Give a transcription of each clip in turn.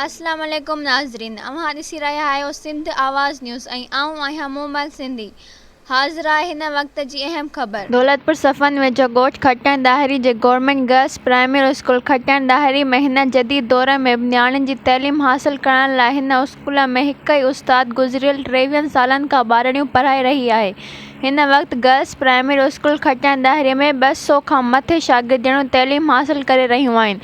اسلام عليڪم ناظرين اوهان ڏسي رهيا آهيو سنڌ آواز نيوز ۽ آئون آهيان مومل سنڌي حاضر آهي هن وقت جي اهم خبر. دولتپور صفن ويجهو ڳوٺ کٽڻ ڏاهري جي government girls primary school Khatan Dahri ۾ هن جديد دور ۾ به نياڻين جي تعليم حاصل ڪرائڻ لاء هن اسڪول اسڪول ۾ هڪ ئي استاد گذريل ٽيويهن سالن کان ٻارڙيون پڙهائي رهي آهي. هن وقت girls primary school Khatian Dahri ۾ ٻه سؤ کان مٿي شاگردياڻيون تعليم حاصل ڪري رهيون آهن.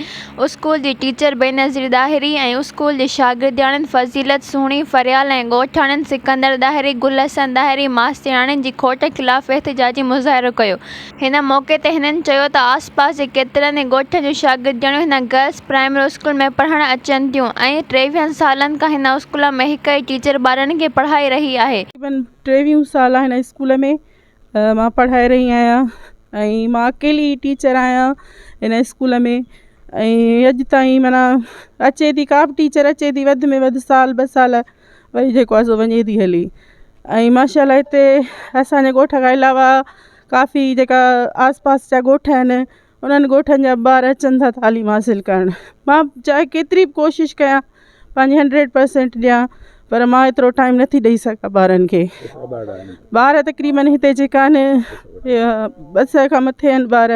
اسڪول جي ٽيچر بينظير ڏاهري ۽ اسڪول جي شاگردياڻين فضيلت سهڻي فريال ۽ ڳوٺاڻين سڪندر ڏاهري، گل حسن ڏاهري، ماسترياڻين جي کوٽ خلاف احتجاجي مظاهرو ڪيو. هن موقعي تي هنن چيو ته آس پاس جي ڪيترن ئي ڳوٺن جون شاگردياڻيون هن گرلس پرائمري اسڪول ۾ پڙهڻ اچن ٿيون ۽ ٽيويهن سالن کان هن اسڪول ۾ هڪ ئي ٽيچر ٻارڙن کي پڙهائي رهي آهي. تقريبن ٽيويهون سال هن اسڪول ۾ مان پڙهائي رهي آهيان ۽ مان اڪيلي ئي ٽيچر آهيان هن اسڪول ۾ ۽ اڄ تائين معنيٰ اچي ٿي ڪا به ٽيچر اچي ٿي وڌ ۾ وڌ سال ٻه سال وري جيڪو آهي سو وڃي ٿي هلي ۽ ماشاء الله هتي اسانجي ڳوٺ کان علاوه ڪافي جيڪا آس پاس جا ڳوٺ آهن انهن ڳوٺن جا ٻار اچن ٿا تعليم حاصل ڪرڻ مان چاهي ڪيتري بي ڪوشش ڪيان پنهنجي هنڊريڊ پرسنٽ ڏيان پر مان ايترو ٽائيم نٿي ڏئي سگهان ٻارن کي ٻار تقريبن هتي جيڪا آهن ٻه سئي کان مٿي آهن ٻار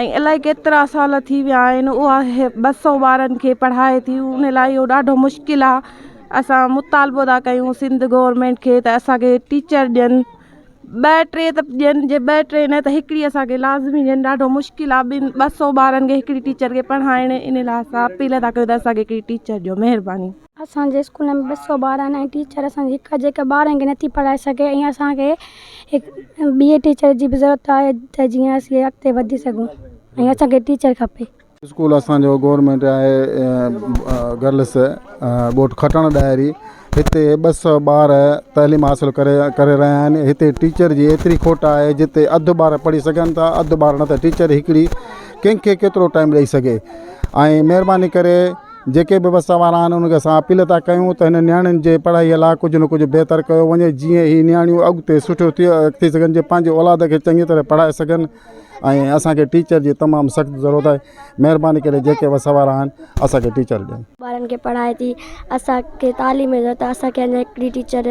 ۽ الائي ڪيترا سال ٿي ويا آهن اها ٻه سؤ ٻارن کي پڙهائي ٿي ان لاء اهو ڏاڍو مشڪل آ اسان مطالبو ٿا ڪيون سنڌ گورمينٽ کي ته اسانکي ٽيچر ڏين ٻه ٽي ته ڏين جي ٻه ٽي نه ته هڪڙي اسانکي لازمي ڏين ڏاڍو مشڪل آ ٻن ٻه سؤ ٻارن کي هڪڙي ٽيچر کي پڙهائڻ ان لاء اسان اپيل ٿا ڪيون ته اسانکي هڪڙي ٽيچر ڏيو مهرباني اسان جي اسڪول ۾ ٻه سؤ ٻار آهن ۽ ٽيچر اسان جي هڪ جيڪا ٻارن کي نٿي پڙهائي سگهي ۽ اسان کي هڪ ٻي ٽيچر جي به ضرورت آهي ته جيئن اسين اڳتي وڌي سگهون ۽ اسان کي ٽيچر کپي. اسڪول اسان جو گورنمينٽ آهي گرلس ٻوٽ کٽڻ ڏاهري هتي ٻه سؤ ٻار تعليم حاصل ڪري ڪري رهيا آهن هتي ٽيچر جي ايتري کوٽ آهي جتي اڌ ٻار پڙهي سگهن ٿا اڌ ٻار نه ته ٽيچر هڪڙي ڪنهن کي ڪيترو ٽائم ڏئي سگهي ۽ مهرباني ڪري جيڪي به وس وارا آهن انهن کي اسان اپيل ٿا ڪيون ته هن نياڻين جي پڙهائي لاء ڪجهه نه ڪجهه بهتر ڪيو وڃي جيئن هي نياڻيون اڳتي سٺيون ٿي ٿي سگهن جي پنهنجي اولاد کي چڱي طرح پڙهائي سگهن ۽ اسان کي ٽيچر جي تمام سخت ضرورت آهي مهرباني ڪري جيڪي وس وارا آهن اسان کي ٽيچر ڏين. ٻارن کي پڙهائي ٿي اسان کي تعليم جي ضرورت آهي اسان کي اڃان هڪڙي ٽيچر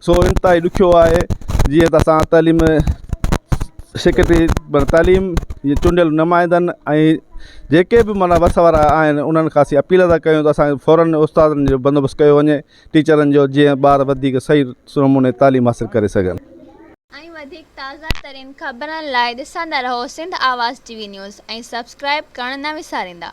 سو انتهائي ڏکيو آهي جيئن ته اسان تعليم سيڪريٽري منا تعليم جي چونڊيل نمائندن ۽ جيڪي بي منا وس وارا آهن انهن کان اسين اپيل ٿا ڪيون ته اسان کي فوراً استادن جو بندوبست ڪيو وڃي ٽيچرن جو جيئن ٻار وڌيڪ صحيح نموني تعليم حاصل ڪري سگهن. ۽ وڌيڪ تازه ترين خبرن لاء ڏسندا رهو Sindh Awaz T V news ۽ subscribe ڪرڻ نه وساريندا.